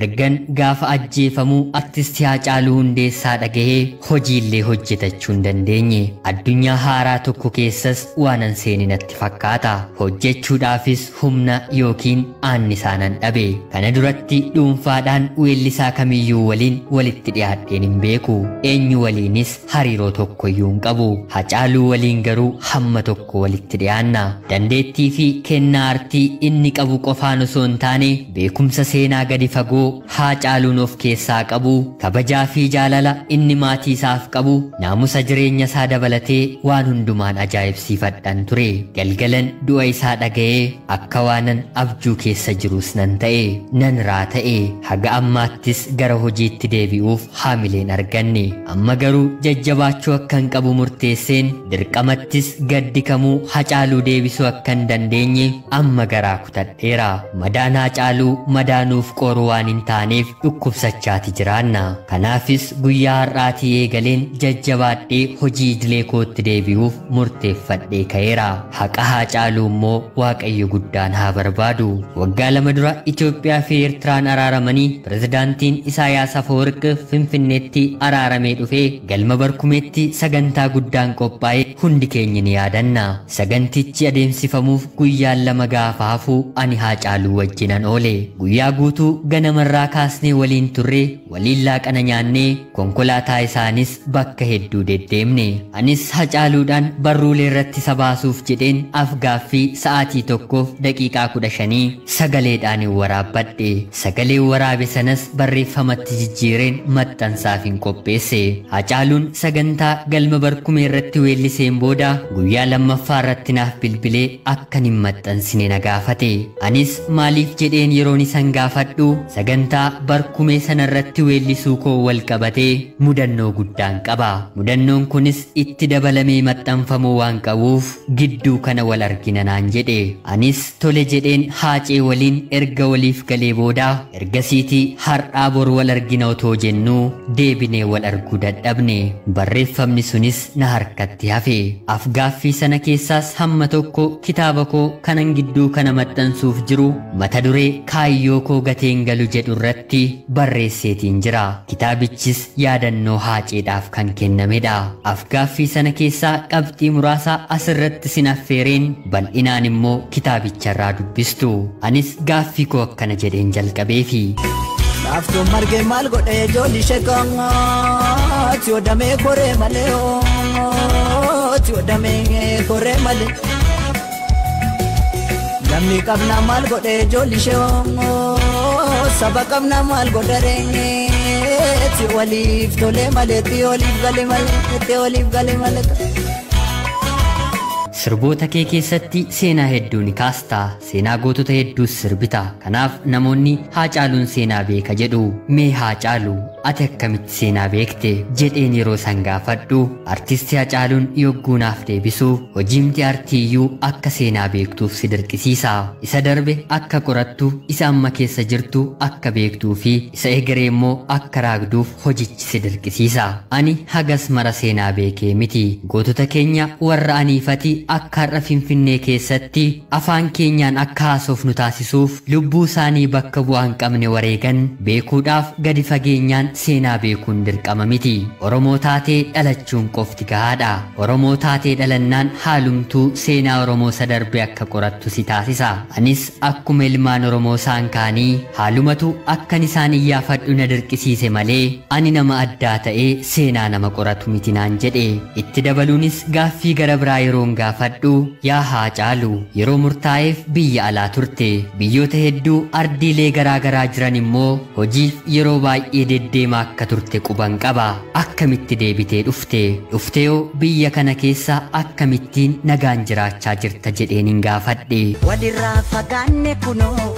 Ergan gaafa ajjeefamu artisti Haacaaluu Hundeessaa dhagahee hojiillee hojjetachuu hin dandeenye. Addunyaa haaraa tokko keessas waanan seene natti fakkaata. Hojjechuudhaafis humna yookiin aannisaa nan dhabe. Kana duratti dhuunfaadhaan weellisaa kamiyyuu waliin walitti dhiyaadheen hin beeku. Eenyu waliinis hariiroo tokkoyyuu hin qabu. Hacaaluu waliin garuu hamma tokko walitti dhiyaanna. Dandeettii fi kennaa artii inni qabu qofaan osoo hin taane beekumsa seenaa gadi fagoo Haacaaluun of keessaa qabu, kabajaa fi jaalala inni maatii isaaf qabu, naamusa jireenya isaa dabalatee waan hundumaan ajaa'ibsiifadhan ture. Galgalan du'a isaa dhaga'ee akka waanan abjuu keessa jiruus nan ta'e. Nan raata'e. Haga ammaattis gara hojiitti deebi'uuf haamilee hin arganne. Amma garuu jajjabaachuu akkan qabu murteesseen dirqamattis gaddi kamuu Hacaaluu deebisuu akka hin dandeenye amma garaa kutadheera. Madaan Haacaaluu madaa nuuf qooru waan hin taaneef dhukkubsachaati jiraanna. Kanaafis guyyaa har'aatii eegaleen jajjabaadhee hojii idilee kootti deebi'uuf murteeffadhee ka'eera. Haqa haa caaluu immoo Waaqayyo guddaan haa barbaadu. Waggaa lama dura Itoophiyaa fi Eertiraan araaramanii pirezidaantiin Isaayaas Afawarq Finfinneetti araaramee dhufee galma Barkumeetti sagantaa guddaan qophaa'e hundi keenya ni yaadanna. Sagantichi adeemsifamuuf guyyaan lama gaafa hafu ani Haacaaluu wajjinan oole. Guyyaa guutuu ganamarraa kaasnee waliin turre, waliin laaqana nyaannee, Konkolaataa isaanis bakka hedduu deddeemne. Anis Hacaaluudhaan barruulee irratti isa baasuuf jedheen af-gaaffii sa'aatii tokkoof daqiiqaa 15 sagaleedhaanin waraabbadhe. Sagaleen waraabe sanas barreeffamatti jijjiireen maxxansaafin qopheesse. Hacaaluun sagantaa Galma Barkumee irratti weelliseen booda guyyaa lammaffaa irratti naaf bilbilee akkan hin maxxansine na gaafate. Anis maaliif jedheen yeroon isan gaafadhu sagantaa Barkumee sanarratti weellisuu koo wal qabatee mudannoo guddaan qaba. Mudannoon kunis itti dabalamee maxxanfamuu waan qabuuf gidduu kana wal argina naan jedhe. Anis tole jedheen Haacee waliin erga waliif galee booda Ergasiiti har'aa bor wal argina otoo jennuu deebinee wal arguu dadhabne. Barreeffamni sunis na harkatti hafe. Af-gaaffii sana keessaas hamma tokko kitaaba koo kanan gidduu kana maxxansuuf jiru mata duree Kaayyoo koo gateen galu jedhu irratti barreesseetiin jira. Kitaabichis yaadannoo Haaceedhaaf kan kennamedha. Af-gaaffii sana keessaa qabxii muraasa asirratti sin affeereen bal'inaan immoo kitaabicharraa dubbistu. Anis gaaffii koo akkana jedheen jalqabeefi. Laaftuu margee maal godhee ijoolli sheekamaa tiyoo damee koree malee oo tiyoo damee koree malee. Lammii qabna maal godhe ijoolli ishee hoomoo saba qabna maal godhe reenyeeti waliif tolee malee itti waliif gale malee itti waliif gale malee. Sirboota kee keessatti seenaa hedduu ni kaasta. Seenaa gootota hedduus sirbita. Kanaaf namoonni haa caaluun seenaa beeka jedhu. Mee haa caalu. Ati akkamitti seenaa beekte jedheen yeroo san gaafadhu artisti Hacaaluun yogguu naaf deebisu hojiimti artiiyyuu akka seenaa beektuuf si dirqisiisa. Isa darbe akka qorattu, isa amma keessa jirtu akka beektuu fi isa egeree immoo akka raagduuf hojichi si dirqisiisa. Ani hagas mara seenaa beekee miti. Gootota keenya warra aniifati akka har'a Finfinnee keessatti afaan keenyaan akka haasofnu taasisuuf lubbuu isaanii bakka bu'aa hin qabne wareegan beekuudhaaf gadi fageenyaan seenaa beekuun dirqama miti. Oromoo taatee dhalachuun qofti gahaadha. Oromoo taatee dhalannaan haalumtuu seenaa Oromoo isa darbe akka qorattu si taasisa. Anis akkuma ilmaan Oromoo isaan kaanii haalumatu akkan isaan iyyaafadhu na dirqisiise malee ani nama addaa ta'ee seenaa nama qoratu miti naan jedhe. Itti dabaluunis gaaffii gara biraa yeroon gaafadhu, yaa Haacaalu, yeroo murtaa'eef biyya alaa turte. Biyyoota hedduu ardiilee garaa garaa jiran immoo hojiif yeroo baay'ee deddeemaa akka turte quban qaba. Akkamitti deebitee dhufte? Dhufteehoo biyya kana keessa akkamittiin nagaan jiraachaa jirta? jedheenin gaafadhe. Walirraa fagaanne kunoo.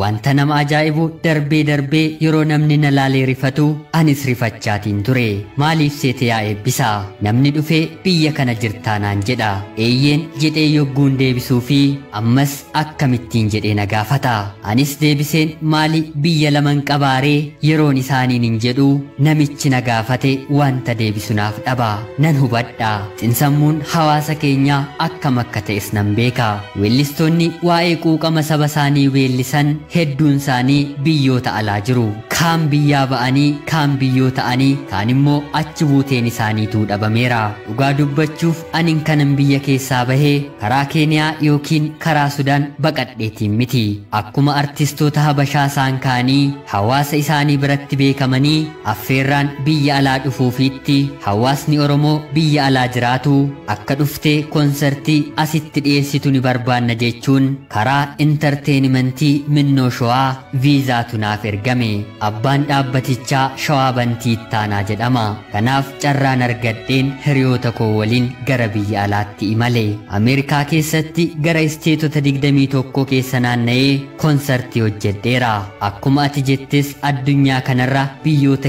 Wanta nama ajaa'ibu darbee darbee yeroo namni na laalee rifatu anis rifachaatiin ture. Maaliif seete yaa Eebbisaa? Namni dhufee biyya kana jirtaa naan jedha. Eeyyeen jedhee yogguun deebisuufi ammas akkamittiin jedhee na gaafata. Anis deebiseen maali biyya laman qabaa ree? Yeroon isaaniin hin jedhu namichi na gaafate wanta deebisu naaf dhaba. Nan hubadha. Xinsammuun hawaasa keenyaa akkam akka ta'es nan beeka. Weellistoonni waa'ee quuqama saba isaanii weellisan hedduun isaanii biyyoota alaa jiru. Kaan biyyaa ba'anii, kaan biyyoo ta'anii, kaan immoo achi buuteen isaaniituu dhabameera. Dhugaa dubbachuuf anin kanan biyya keessaa bahe karaa Keeniyaa yookiin karaa Sudaan baqadheetiin miti. Akkuma artistoota Habashaa isaan kaanii, Hawaasa isaanii biratti beekamanii affeerraan biyya alaa dhufuufiitti hawaasni Oromoo biyya alaa jiraatu akka dhuftee konsartii asitti dhiyeessitu ni barbaanna jechuun karaa intarteenimentii Minnoo Showaa viizaatu naaf ergame. Abbaan dhaabbatichaa Shawaa Bantii Ittaanaa jedhama. Kanaaf carraan argadheen hiriyoota koo waliin gara biyya alaatti imale. Ameerikaa keessatti gara isteetota 21 keessa naanna'ee Konsartii hojjedheera. Akkuma ati jettes addunyaa kanarra biyyoota